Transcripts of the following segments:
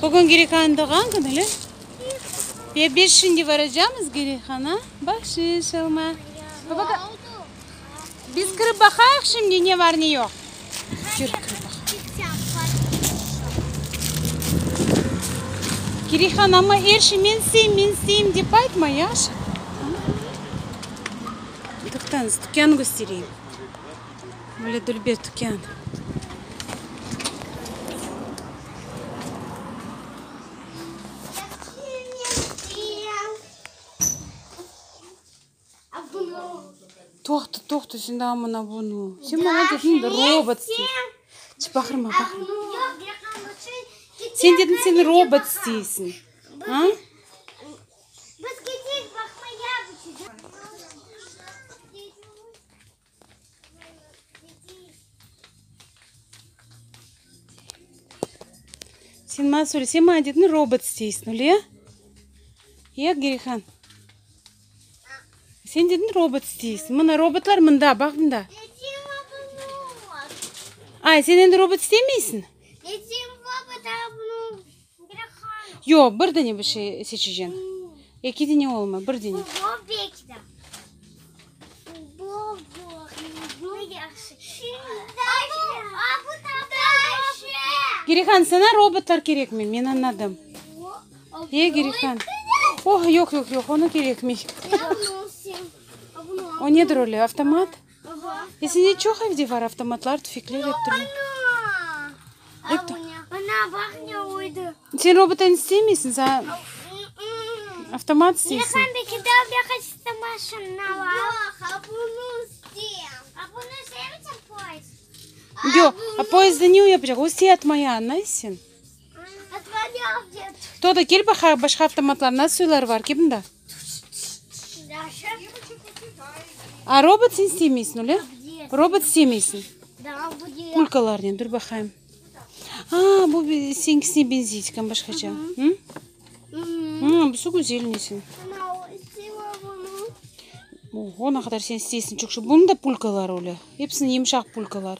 Bugün Gireyhan'ın doğğan künü le? Ya biz şimdi varacamız Gireyhan'a bahşiş alma. Biz kirip baqayıq şimdi ne bar ne yoq. Kir kirip baqayıq. Gireyhan amma er şey men isteyim men isteyim dep aytma yahşı? Toqtañız dükânı köstereyim. Böyle dülber tükân. Toqta, toqta, sen daa mına bunu. Sen mına dedin robotskiy. Çıp, baqırma, baqırma. Sen dedin sen robot isteysiñ. A? Sen masül, sen maña dedin, robot isteysiñ, öyle ya? Ya, Gerihan? Sen dedin, robot isteysiñ. Mına, robotlar mında, baq mında. Ay, sen endi robot istemeysiñ? Dedim, robot, a bunu Yoq, bir dene bir şey seçeceksin. Eki dene olmay, bir dene. Girihan, sana robotlar kerekmi? Men anladım. E, Girihan. Oh, yoq, yoq, yoq, onu kerekmi. O nedir öyle, avtomat? Esede çoq evde var, avtomatlar, tüfekler, ep türlü. Sen robotan istemeysiñ, sen avtomat isteysiñ. Yoq, a poezdda ne yapacaq? O istey atmaya, añlaysıñ? Toda, kel baqaq, başqa avtomatlar, nasıl uylar var, kel mında. A robot sen istemeysiñ, öyle? Robot istemeysiñ. Pulkalarnen, dur baqayım. A, bu seninkisine benzey ekan başqaça. Busı güzelniy señ. Oho, ne qadar sen isteysiñ, çoqşı. Bunıñ da pulkaları öyle. Hepsiniñ yımşaq pulkalar.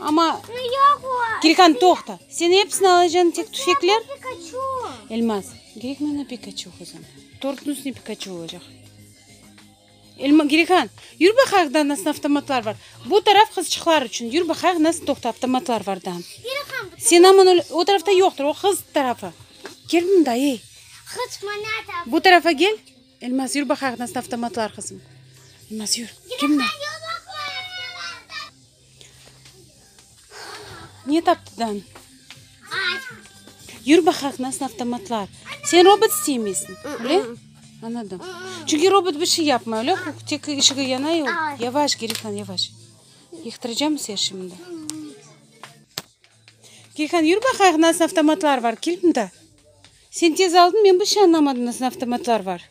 Amma Kirkan toqta. Sen epsini alacañ tek tüfekler? Elmaz, gerek mana Pikaçu qızım. Tortnıñ üstüne Pikaçu olacaq. Elma, Girikan, yür baqayıq da nasıl avtomatlar bar. Bu taraf qızçıqlar içün. Yür baqayıq nasıl toqta avtomatlar var da. Sen aman öyle, o tarafta yoqtır, o qız tarafı. Kel mında, ey. Bu tarafa gel. Elmaz, yür baqayıq nasıl avtomatlar qızım. Elmaz, yür. Kel mında. Ne taptıdan? Ay. Yür baqaq nasıl avtomatlar. Sen robot isteymisin, öyle? Anladım. Çünkü robot bir şey yapmay, öyle? Tek ışığı yanay, o yavaş, geri kalan yavaş. Yıktıracağım sen şimdi. Geyhan, yür baqaq nasıl avtomatlar var, kil bunda. Sen tez aldın, men bir şey anlamadım nasıl avtomatlar var.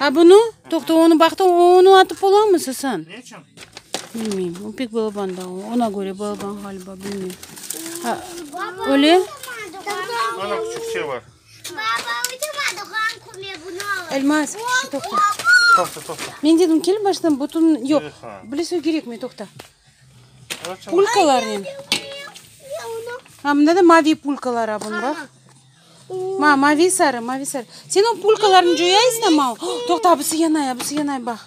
A bunu? Toqta, onı baqtı, onı atıp olamı Sasan? Bilmeyim, o pek balaban da, ona göre balaban ğaliba, bilmeyim. A, öyle? Ana küçük şey var. Elmas, şu toqta. Toqta, toqta. Men dedim, kel baştan bütün, yok, bile söy gerek mi, toqta. Pulkalar ne? Ha, bunda da mavi pulkalar abun, bak. Ma, mavi-sarı, mavi-sarı. Sen o pulkalarnı coyaysıña, ma? Toqta, abısı yanay, abısı yanay, bax.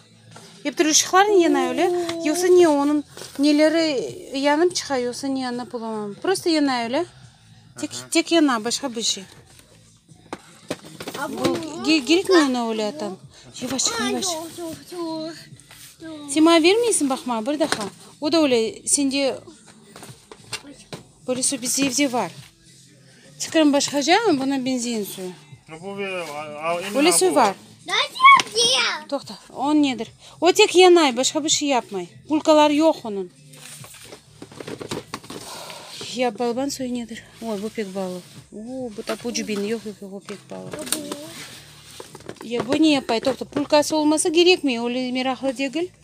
Ep türlü ışıqlarnı yanay, öyle? Yoqsa ne, onıñ neleri yanıp çıqa, yoqsa ne, añlap olamam. Prosto yanay, öyle? Tek, tek yana, başqa bir şey. Bu, gerekmi ona öyle atam? Yavaş çıqma, yavaş. Sen maña bermeysiñ, bax, maña, bir daha. O da öyle, sende böyle sobiz evde var. Fikrim başqaca, buna benzeyen suyu. Böyle suyu var. Toqta, o nedir? O tek yanay, başqa bir şey yapmay. Bulkaları yoq onıñ. Ya balban suyu nedir? Oy, bu pek balı. Uuu, bu tapu cibin, yoq, yoq, yoq, o pek balı. Ya bu ne yapay? Toqta, bulkası olmasa gerekmey, öyle meraqlı degil.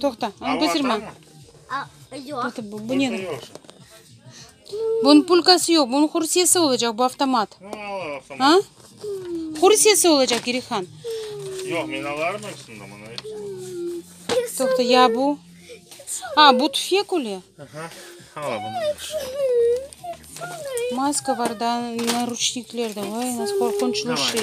Toqta, anı qızdırma. Bunıñ pulkası yoq, bunıñ hursiyesi olacaq, bu avtomat. A? Hursiyesi olacaq, Girihan. Yoq, men alarım hepsini, bana hepsini. Toqta, ya bu? A, bu tüfek öyle. Aha, hala bunu. Maska var da, narучникler de, vay, nasıl qorqunçlı şey.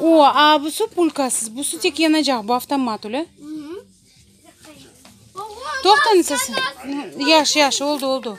O, aa, bu su pulkasız, bu su tek yanacaq, bu avtomat, ule? Toqtañız ese. Yaş, yaş, oldu, oldu.